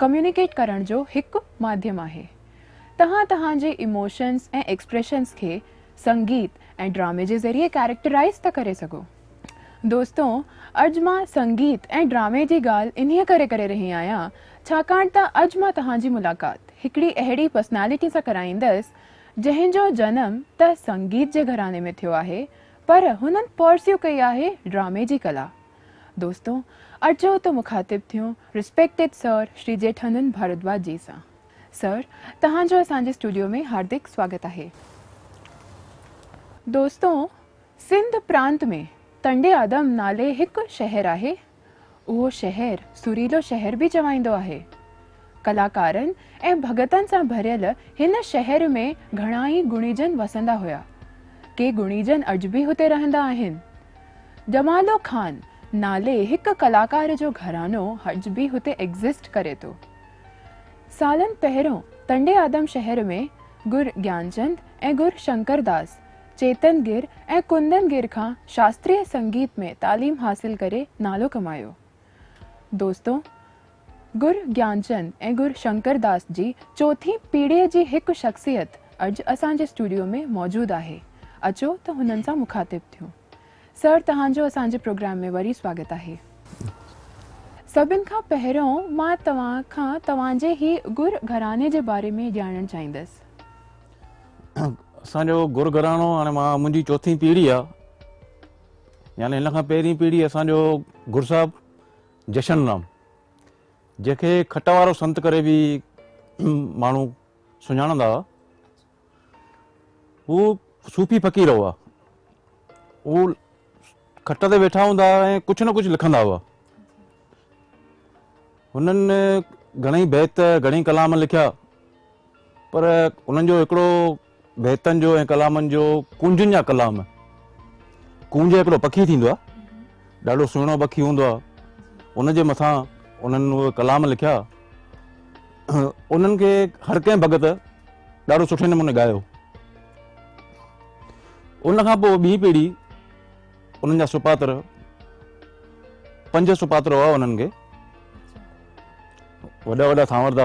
Communicate ڪرڻ جو هڪ ماڌيم آهي. توهان توهان جي ايموشنز ۽ ايڪسپريشنز کي سنگيت ۽ ڊرامي جي ذريعي ڪيريڪٽرائيز ٿا ڪري سگهو. دوستو اڄ مان سنگيت ۽ ڊرامي جي ڳالهه انهيء ڪري ڪري رهي آهيان ڇاڪاڻ ته اڄ مان توهان جي ملاقات هڪڙي اهڙي پرسنالٽي سان ڪرائيندس جنهن جو جنم ته سنگيت جي گهراڻي ۾ ٿيو آهي پر هنن پرسيو ڪئي آهي ڊرامي جي ڪلا دوستو! اچو ته مخاطب ٿيون Respected Sir شري جيٺانند ڀاردواج جي سان. Sir، توهان جو اسان جي اسٽوڊيو ۾ هاردڪ سواگت آهي. دوستو! سنڌ پرانت ۾ تنڊي آدم نالي هڪ شهر آهي. اهو شهر سريلو شهر به چوائيندو آهي. ڪلاڪارن ۽ ڀڳتن سان ڀريل هن شهر ۾ گهڻا ئي گڻيجن وسندا هيا. ڪي گڻيجن اڄ به هتي رهندا آهن. ڄمالو خان نالي هڪ ڪلاڪار جو گهراڻو اڄ به هتي ايگزسٽ ڪري ٿو. سالن پهريون تنڊي آدم شهر ۾ گر گيانچند ۽ گر شنڪر داس چيتن گر ۽ ڪندن گر کان شاستريه سنگيت ۾ تعليم حاصل ڪري نالو ڪمايو. دوستو! گر گيانچند ۽ گر شنڪر داس جي چوٿين پيڙهيء جي هڪ شخصيت اڄ اسان جي اسٽوڊيو ۾ موجود آهي. اچو ته هنن سان مخاطب ٿيون. سر توهان جو اسان جي پروگرام ۾ وري سواگت آهي. سڀن کان پهريون مان توهان کان توهان جي هي گر گهراڻي جي باري ۾ ڄاڻڻ چاهيندس. اسان جو گر گهراڻو هاڻي مان منهنجي چوٿين پيڙهي آهي يعني هن کان پهرين پيڙهي اسان جو گر صاحب جشن رام جنهن کي کٽ وارو سنت ڪري به ماڻهو سڃاڻندا هئا هو صوفي فقير هئا هو کٽ تي ويٺا هوندا هئا ۽ ڪجهه نه ڪجهه لکندا هئا هنن گهڻي بيت گهڻي ڪلام لکيا پر انهن جو هڪڙو بيتن جو ۽ ڪلامن جو ڪونجن جا ڪلام ڪونج هڪڙو پکي ٿيندو آهي ڏاڍو سهڻو پکي هوندو آهي ان جي مٿان انهن اهي ڪلام لکيا انهن کي هر ڪنهن ڀڳت ڏاڍو سٺي نموني ڳايو ان کان پوء ٻي پيڙهي انهن جا سپاتر پنج سپاتر هئا انهن کي وڏا وڏا سانوردا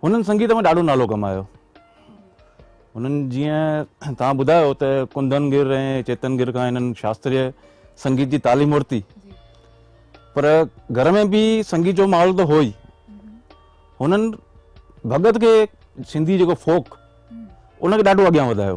هنن سنگيت ۾ ڏاڍو نالو ڪمايو. هنن جيئن توهان ٻڌايو ته ڪنڌن گر ۽ چيتن گر کان هنن شاستريه سنگيت جي تعليم ورتي پر گهر ۾ به سنگيت جو ماحول ته هو ئي هنن ڀڳت کي سنڌي جيڪو فوڪ ان کي ڏاڍو اڳيان وڌايو.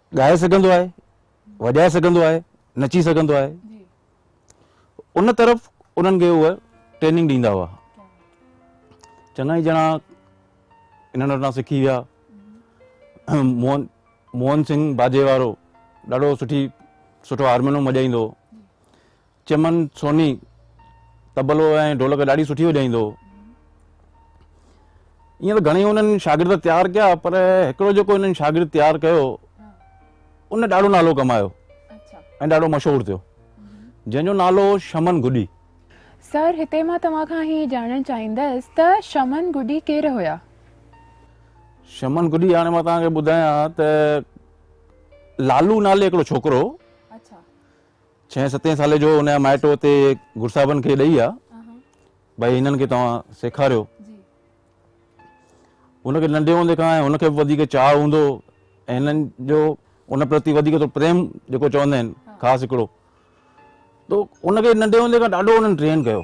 ڳائي سگهندو آهي، وڄائي سگهندو آهي، نچي سگهندو آهي ان طرف انهن کي اهي ٽريننگ ڏيندا هئا چڱا ئي ڄڻا انهن وٽان سکي ويا موهن موهن سنگھ باجي وارو ڏاڍو سٺي سٺو هارمونيم وڄائيندو چمن سوني طبلو ۽ ڍولڪ ڏاڍي سٺي وڄائيندو هو. ائين ته گهڻي هنن شاگرد تيار ڪيا پر هڪڙو جيڪو هنن شاگرد تيار ڪيو ان ڏاڍو نالو ڪمايو ۽ ڏاڍو مشهور ٿيو جنهن جو نالو هو شمن گڊي. سر هتي مان توهان کان هي ڄاڻڻ چاهيندس ته شمن گڊي ڪير هيا؟ شمن گڊي هاڻي مان توهان کي ٻڌايان ته لالو نالي هڪڙو ڇوڪرو هو. ڇهين ستين سالي جو ان جا مائٽ اتي گر صاحبن کي ڏئي ويا ڀائي هنن کي توهان سيکاريو ان کي ننڍي هوندي کان ان کي به وڌيڪ چاهه هوندو ۽ هنن جو ان پرتي وڌيڪ ٿو پريم جيڪو چوندا آهن خاص هڪڙو تو ان کي ننڍي هوندي کان ڏاڍو هنن ٽرين ڪيو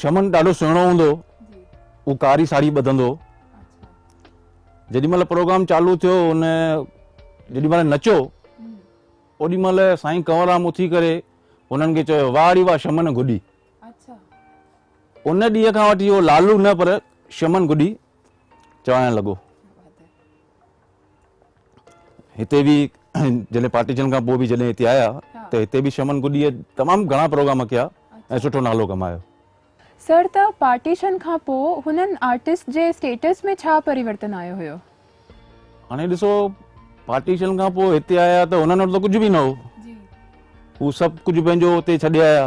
شمن ڏاڍو سهڻو هوندو هو ڪاري ساڙهي ٻڌندو جيڏي مهل پروگرام چالو ٿيو ان جيڏي مهل نچو اوڏي مهل سائين ڪنورام اٿي ڪري انهن کي چيو واڙي واهه شمن گڏي ان ڏينهن کان وٺي اهو لالو نه پر شمن گڏي چوائڻ لڳو هتي به جڏهن پارٽيشن کان پوء به جڏهن هتي آيا ته هتي به شمن گڏيء تمام گهڻا پروگرام ڪيا ۽ سٺو نالو ڪمايو. سر ته پارٽيشن کان پوء هنن آرٽسٽ جي اسٽيٽس ۾ ڇا پريورتن آيو هيو؟ هاڻي ڏسو پارٽيشن کان پوء هتي آيا ته هنن وٽ ته ڪجهه به نه هو. هو سڀ ڪجهه پنهنجو هتي ڇڏي آيا.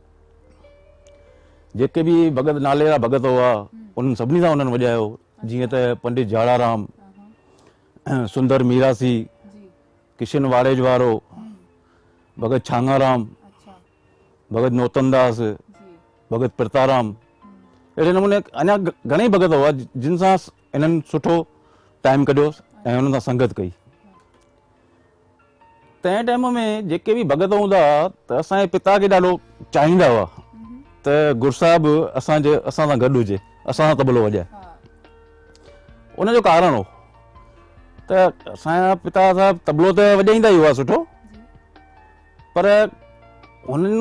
جيڪي به ڀڳت نالي جا ڀڳت هئا انهن سڀني سان انهن وڄايو جيئن ته پنڊت جاڙا رام سندر ميراسي ڪشن واڙيج وارو ڀڳت ڇانگا رام ڀڳت نوتن داس ڀڳت پرتا رام اهڙي نموني اڃا گھڻي ڀڳت هئا جن سان انهن سٺو ٽائيم ڪڍيو ۽ انهن سان سنگت ڪئي تنهن ٽائيم ۾ جيڪي به ڀڳت هوندا هئا ته اسان جي پتا کي ڏاڍو چاهيندا هئا ته گل صاحب اسان جي اسان سان گڏ هجي اسان سان طبلو وڄائي ان جو ڪارڻ هو ته اسان جا پتا صاحب طبلو ته وڄائيندا ئي هئا سٺو پر هنن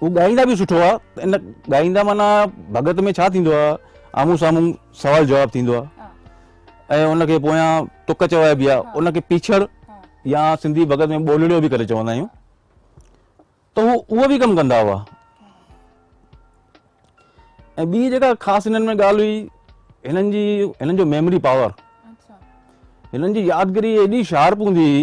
هو ڳائيندا به سٺو آ ته ان ڳائيندا معنيٰ ڀڳت ۾ ڇا ٿيندو آ آمهون سامهون سوال جواب ٿيندو آ ۽ ان کي پويان تڪ چوائبي آ ان کي پيڇڙ يا سنڌي ڀڳت ۾ ٻولڙيو به ڪري چوندا آهيون ته هو اهو به ڪم ڪندا هئا ۽ ٻي جيڪا خاص هنن ۾ ڳالهه هئي هنن جي هنن جو ميموري پاور هنن جي يادگري ايڏي شارپ هوندي هئي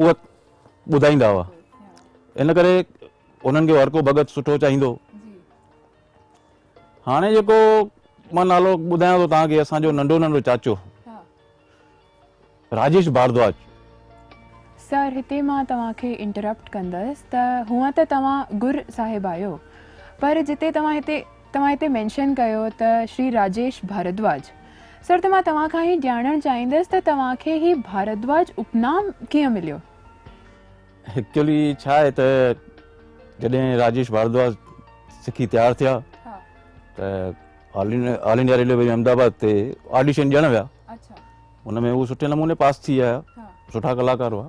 اهي ٻڌائيندا هئا ان ڪري انهن کي هر ڪو ڀڳت سٺو چاهيندو هاڻي جيڪو مان نالو ٻڌايان ٿو تان کي اسان جو ننڍو ننڍو چاچو راجيش ڀاردواج سر هتي مان توهان کي انٽرپٽ ڪندس ته هونئن ته توهان گر صاحب آهيو پر جتي توهان هتي توهان هتي مينشن ڪيو ته شري راجيش ڀاردواج سر ته مان توهان کان هي ڄاڻڻ چاهيندس ته توهان کي هي ڀاردواج اپنام ڪيئن مليو؟ ايڪچولي ڇا آهي ته جڏهن راجيش ڀاردواج سکي تيار ٿيا ته آل انڊيا ريلوي واري احمد آباد تي آڊيشن ڏيڻ ويا ان ۾ هو سٺي نموني پاس ٿي آيا سٺا ڪلاڪار هئا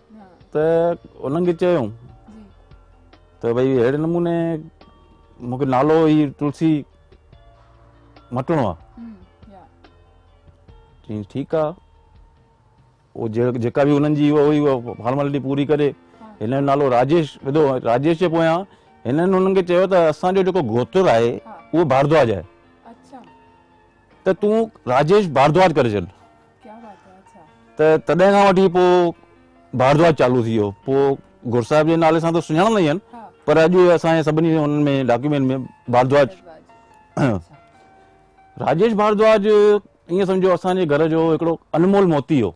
ته انهن کي چيو ته ڀئي اهڙي نموني مون کي نالو هي تلسي مٽڻو آهي چيائين ٺيڪ آهي هو جيڪا به انهن جي هو هئي هو فارملٽي پوري ڪري هن جو نالو راجيش وڌو راجيش جي پويان هنن هنن کي چيو ته اسان جو جيڪو گوتر آهي اهو ڀاردواج آهي ته تون راجيش ڀاردواج ڪري ڇڏ. ته تڏهن کان وٺي پوء ڀاردواج چالو ٿي ويو. پوء گهر صاحب جي نالي سان ته سڃاڻندا ئي آهن پر اڄ اسان جي سڀني انهن ۾ ڊاڪيومينٽ ۾ ڀاردواج ۽ راجيش ڀاردواج ائين سمجهو اسان جي گهر جو هڪڙو انمول موتي هو.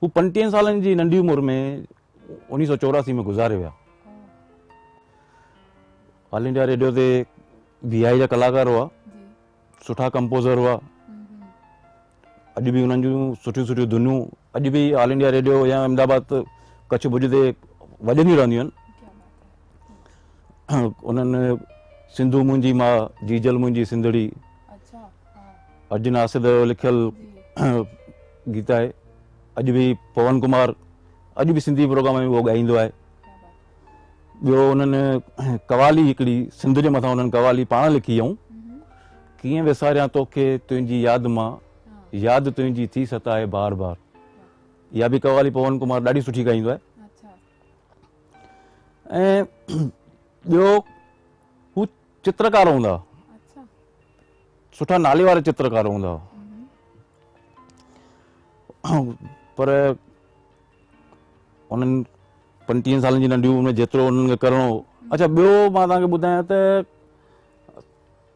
هو پنجٽيهن سالن جي ننڍي عمر ۾ اڻيهه سؤ چوراسي ۾ گذاري ويا. آل انڊيا ريڊيو تي وي آء جا ڪلاڪار هئا، سٺا ڪمپوزر هئا. اڄ به انهن جون سٺيون سٺيون ڌنيون اڄ به آل انڊيا ريڊيو يا احمد آباد ڪڇ ڀڄ تي وڄنديون رهنديون آهن. انهن سنڌو منهنجي ماء، جيجل منهنجي سنڌڙي، ارجن آسد جو لکيل گيت آهي اڄ به پون ڪمار اڄ به سنڌي پروگرام ۾ اهو ڳائيندو آهي ٻيو انهن قوالي هڪڙي سنڌ جي مٿان انهن قوالي پاڻ لکي هئائون ڪيئن وساريان توکي تنهنجي ياد مان ياد تنهنجي ٿي ستائي بار بار اها به قوالي پون ڪمار ڏاڍي سٺي ڳائيندو آهي ۽ ٻيو هو چترڪار هوندا اچھا سٺا نالي وارا چترڪار هوندا پر انهن پنجٽيهن سالن جي ننڍي عمر ۾ جيترو انهن کي ڪرڻو هو اچھا ٻيو مان تنهن کي ٻڌايان ته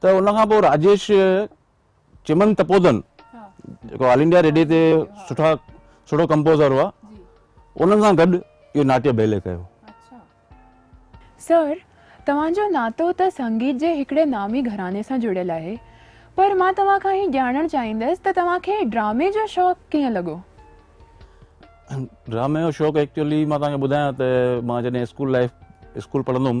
ته ان کان پوء راجيش چمن تپودن جيڪو آل انڊيا ريڊيو تي سٺا سٺو ڪمپوزر هئا انهن سان گڏ اهو ناٽيه بيلي ڪيو سر توهان جو ناتو ته سنگيت جي هڪڙي نامي گهراڻي سان جڙيل آهي پر مان توهان کان هي ڄاڻڻ چاهيندس ته توهان کي ڊرامي جو شوق ڪيئن لڳو؟ ڊرامي جو شوق ايڪچولي مان توهان کي ٻڌايان ته مان جڏهن اسڪول لائيف اسڪول پڙهندو هوم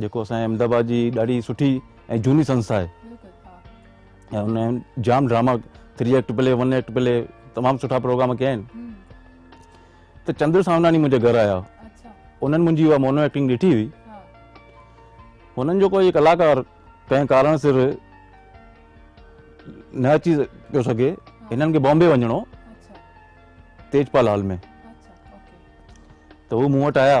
جيڪو اسان جي احمد آباد جي ڏاڍي سٺي ۽ جھوني سنسٿا آھي ۽ ان جام drama three act play one act play تمام سٺا پروگرام ڪيا آھن ته چندر سامناڻي منھنجي گھر آيا انھن منھنجي اھا مونو ايڪٽنگ ڏٺي ھئي انھن جو ڪوئي ڪلاڪار ڪنھن ڪارڻ سر نه اچي پيو سگھي انھن کي بامبي وڃڻو ھو تيجپال ھال ۾ ته ھو مون وٽ آيا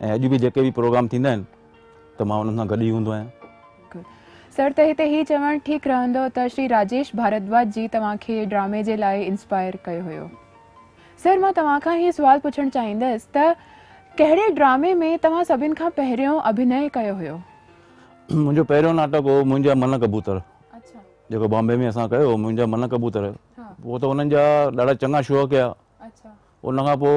۽ اڄ به جيڪي به پروگرام ٿيندا آهن ته مان انهن سان گڏ ئي هوندو آهيان. سر ته هتي هي چوڻ ٺيڪ رهندو ته شري راجيش ڀاردواج جي توهان کي ڊرامي جي لاء انسپائر ڪيو هيو. سر مان توهان کان هي سوال پڇڻ چاهيندس ته ڪهڙي ڊرامي ۾ توهان سڀن کان پهريون اڀنئي ڪيو هيو؟ منهنجو پهريون ناٽڪ هو منهنجا من ڪبوتر جيڪو بامبي ۾ اسان ڪيو هو منهنجا من ڪبوتر پوء ته انهن جا ڏاڍا چڱا شو ڪيا ان کان پوء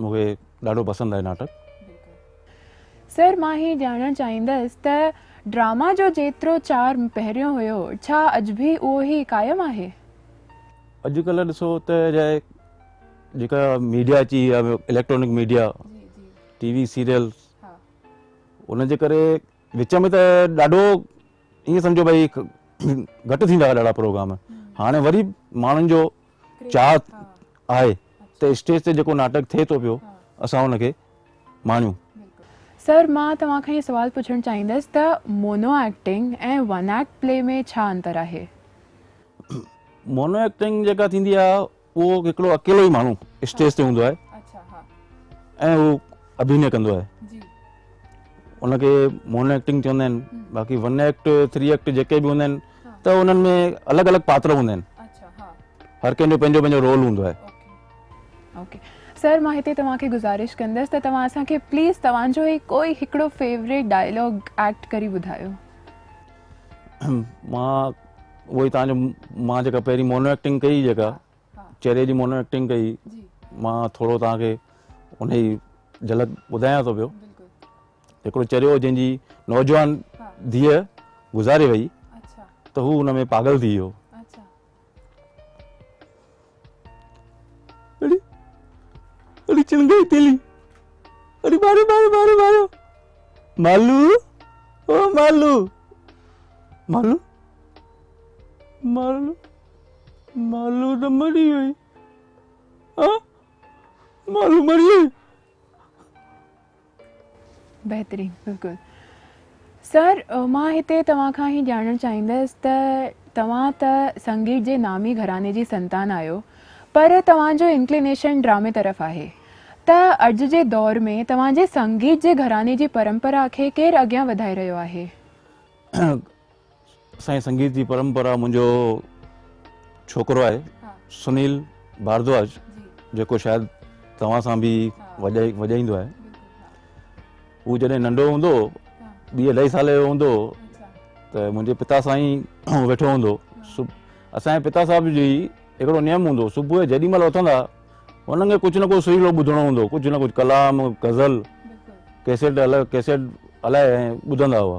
مون کي ڏاڍو پسند آهي ناٽڪ. سر مان هي ڄاڻڻ چاهيندس ته ڊراما جو جيترو چارم پهريون هيو ڇا اڄ به اهو هي قائم آهي؟ اڄ ڪلهه ڏسو ته جاء جيڪا ميڊيا اچي وئي آهي electronic media T V serial ان جي ڪري وچ ۾ ته ڏاڍو ائين سمجهو ڀئي گهٽ ٿيندا هئا ڏاڍا پروگرام هاڻي وري ماڻهن جو چاهت آهي ته اسٽيج تي جيڪو ناٽڪ ٿئي ٿو پيو اسان ان کي ماڻيون. سر مان توهان کان اهي سوال پڇڻ چاهيندس ته mono acting ۽ one act play ۾ ڇا انتر آهي؟ مونو ايڪٽنگ جيڪا ٿيندي آهي اهو هڪڙو اڪيلو ئي ماڻهو اسٽيج تي هوندو آهي ۽ هو اڀينئي ڪندو آهي ان کي مونو ايڪٽنگ چوندا آهن باقي ون ايڪٽ ٿري ايڪٽ جيڪي به هوندا آهن ته انهن ۾ الڳ الڳ پاتر هوندا آهن هر ڪنهن جو پنهنجو پنهنجو رول هوندو آهي. اوڪي سر مان هتي توهان کي گذارش ڪندس ته توهان اسان کي پليز توهان جو هي ڪوئي هڪڙو فيوريٽ ڊائلاگ ايڪٽ ڪري ٻڌايو. مان اهو ئي توهان جو مان جيڪا پهرين مونو ايڪٽنگ ڪئي جيڪا چهري جي مونو ايڪٽنگ ڪئي مان ٿورو توهان کي ان جي جهلڪ ٻڌايان ٿو پيو. هڪڙو چريو جنهن جي نوجوان ڌيء گذاري وئي ته هو ان ۾ پاڳل ٿي ويو. اڙي اڙي چڻگائي تيلي اڙي ماريو ماريو ماريو ماريو مالو او مالو مالو مالو مالو نه مري وئي ها مالو مري وئي بهترين بلڪل سر مان هتي توهان کان هي ڄاڻڻ چاهيندس ته توهان ته سنگيت جي نامي گهراڻي جي سنتان آهيو پر توهان جو انڪلينيشن ڊرامي طرف آهي ته اڄ جي دور ۾ توهان جي سنگيت جي گهراڻي جي پرمپرا کي ڪير اڳيان وڌائي رهيو آهي سائين سنگيت جي پرمپرا منهنجو ڇوڪرو آهي سنيل ڀاردواج جيڪو شايد توهان سان به وڄائيندو آهي هو جڏهن ننڍو هوندو ٻي اڍائي سالي جو هوندو ته منهنجي پتا سان ئي ويٺو هوندو اسانجي پتا صاحب جي هڪڙو نيم هوندو صبح جو جيڏي مهل اٿندا انهن کي ڪجهه نه ڪجهه سريلو ٻڌڻو هوندو ڪجهه نه ڪجهه ڪلام غزل ڪيسيٽ ڪيسيٽ هلائي ٻڌندا هئا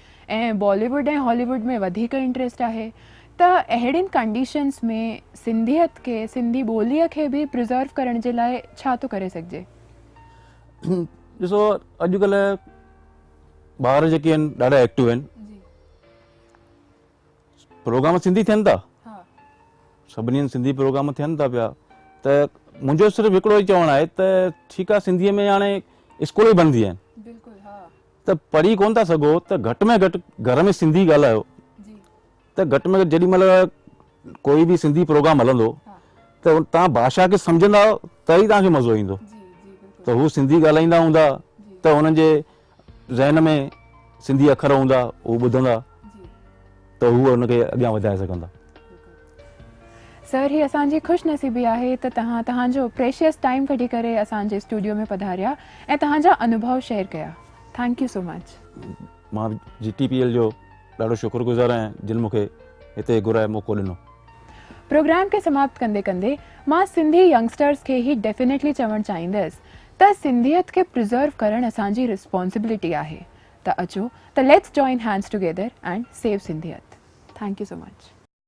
۽ بالي ووڊ ۽ هالي ووڊ ۾ وڌيڪ انٽريسٽ آهي ته اهڙين ڪنڊيشنز ۾ سنڌيت کي سنڌي ٻولي کي به پرزرو ڪرڻ جي لاء ڇا ٿو ڪري سگهجي؟ ڏسو اڄڪلهه ٻار جيڪي آهن ڏاڍا ايڪٽو آهن پروگرام سنڌي ٿين ٿا سڀني هنڌ سنڌي پروگرام ٿين ٿا پيا ته منهنجو صرف هڪڙو ئي چوڻ آهي ته ٺيڪ آهي سنڌيء ۾ هاڻي اسڪول به بند ٿي ويا آهن ته پڙهي ڪونه ٿا سگهو ته گهٽ ۾ گهٽ گهر ۾ سنڌي ڳالهايو ته گهٽ ۾ گهٽ جيڏي مهل ڪوئي به سنڌي پروگرام هلندو ته تان ڀاشا کي سمجهندا ته ئي تانکي مزو ايندو ته هو سنڌي ڳالهائيندا هوندا ته هنن جي ذهن ۾ سنڌي اکر هوندا هو ٻڌندا ته هو هن کي اڳيان وڌائي سگهندا سر هي اسان جي خوش نصيبي آهي ته توهان توهان جو پريشيس ٽائيم ڪڍي ڪري اسان جي اسٽوڊيو ۾ پڌاريا ۽ توهان جا انوڀو شيئر ڪيا ٿينڪ يو سو مچ. مان جي ٽي پي ايل جو ڏاڍو شڪر گذار آهيان جن مون کي هتي گهرائي موقعو ڏنو. پروگرام کي سماپت ڪندي ڪندي مان سنڌي ينگسٽرز کي هي ڊيفينيٽلي چوڻ چاهيندس ته سنڌيت کي پريزرو ڪرڻ اسان جي رسپانسبلٽي آهي ته اچو ته let's join hands together and save سنڌيت ٿينڪ يو سو مچ.